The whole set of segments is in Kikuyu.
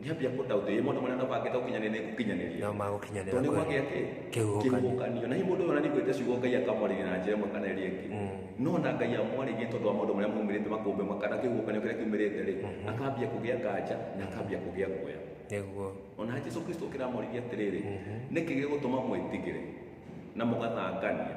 Nĩambia kũ doubt ĩ mũndũ mwana no mangĩta ũkinyanĩria gũkinyanĩria No magũkinyanĩra tondũ kweli. nĩgwagĩa kĩ Kĩhuhũkanio. kĩhuhũkanio na hihi mũndũ ũyũ ona nĩgwĩte ciugo Ngai akamwarĩria na njĩra ĩmwe kana ĩrĩa ĩngĩ no ona Ngai amwarĩrie tondũ wa maũndũ marĩa maumĩrĩte makũmbĩ makana kĩhuhũkanio kĩrĩa kiumĩrĩte rĩ akambia kũgĩa kanja na akambia kũgĩa guoya Nĩguo. ona Jesu Kristo kĩramwarĩria atĩrĩrĩ nĩkĩ gĩgũtũma mwĩtigĩre na mũgathangania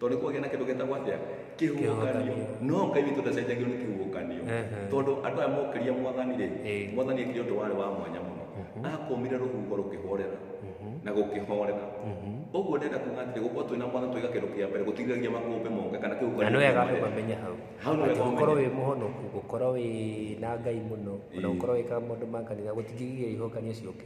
tondå nä kwagä na kä ndå getagwo atä Kĩhuhũkanio. no ngai witå ndacenjagio nä kä huhåkanio Ehe. tondå andå aya mokĩria mwathani rä Ĩĩ. mwathani ekire å ndå warä wa mwanya må no akomire rå huho rå kä horera na gå kä horera å guo ndenda kuga atä gå korwo twä na mwathani twaiga kä ndå kä a mbere gå tigiragia makåmbä moke kana kä na nä wega andå mamenye hau Hau nĩ Atĩ wega gũkorwo ũmenye. wĩ mũhonoku gũkorwo wĩ na ngai mũno ona Ĩĩ. gũkorwo wĩkaga maũndũ ma kanitha gũtingĩgiria ihokanio ciũke